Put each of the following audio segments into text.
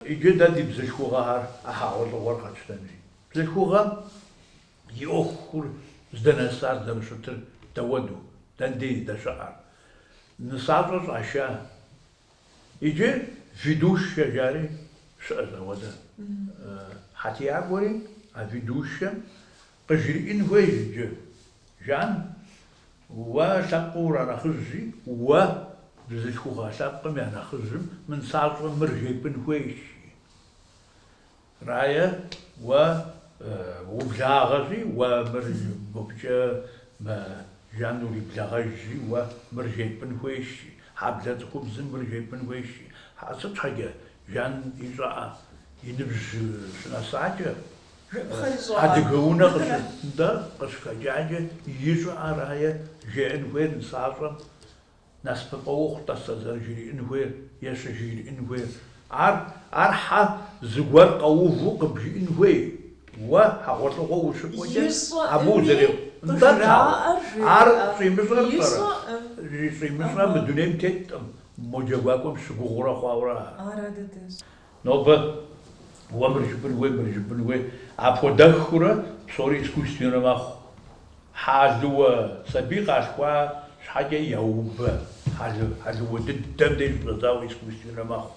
Иджы дэ ди бзылъхугъэхэр а хьэгъуэлӏыгъуэр къэтщтэнри. Бзылъхугъэм и ӏуэхур здэнэсар зэрыщытыр дауэду, дэндей здэщыӏэр, нысащӏэ щӏаша. Иджы ведущэ жари щыӏэщ ауэдэ. Хьэтиякӏуэри а ведущэм къыжриӏын хуейщ иджы. Жан Уэ лъэпкъым уранэхъыжьщи, уэ, бзылъхугъэ лъэпкъым я нэхъыжьым, мы нысащӏэм мыр жепӏын хуейщи. Рае, уэ ублагъэщи, уэ мыр мыбыкӏэ мэ Жан уриблагъэжьщи, уэ мыр жепӏын хуейщи, хьэблэ цӏыхубзым мыр жепӏын хуейщи. Сыт щхьэкӏэ, Жан и щӏыӏэ, и ныбжь щынэсакӏэ, Адыгэ унэ къыщытындэр къыщыхэкӏакӏэ ищӏэ арае жеӏэн хуейр нысащӏэм насыпыфӏэ ухъу тӏэсэ зэрыжриӏэн хуейр е щыжриӏэн хуейр. Ар ар хьэ зыгуэр къэуву къыбжиӏэн хуей уэ хьэгъуэлӏыгъуэ ущыкӏуэкӏэ абы узэрехъуэхъунур ауэ ар щӏимыщӏэр пӏэрэ? Щӏимыщӏэ мы дунейм теттэкъым, мо джэгуакӏуэм щыгугъыурэ хъуауэ ара? Нобэ уэ мыр жыпӏын хуей, мыр жыпӏын хуей, апхуэдэххыурэ псори искусственнэ мэхъу. Хьэлыуэ сабий къалъхуа щхьэкӏэ яубэ, хьэлыуэ дыдэм деж щыщӏэдзауэ искусственнэ мэхъу.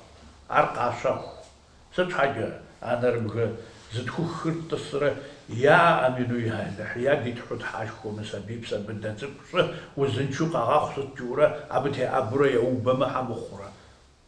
Ар къащэху. Сыт щхьэкӏэ? А нэрыбгэ зытхухыр тӏысрэ я амин, уэ ялыхь, я ди тхьэу тхьэшхуэ мы сабийр псэ быдэ цӏыкӏу щӏы узыншэу къэгъэхъу сытурэ абы теӏэбэурэ яубэмэ щхьэ мыхъурэ.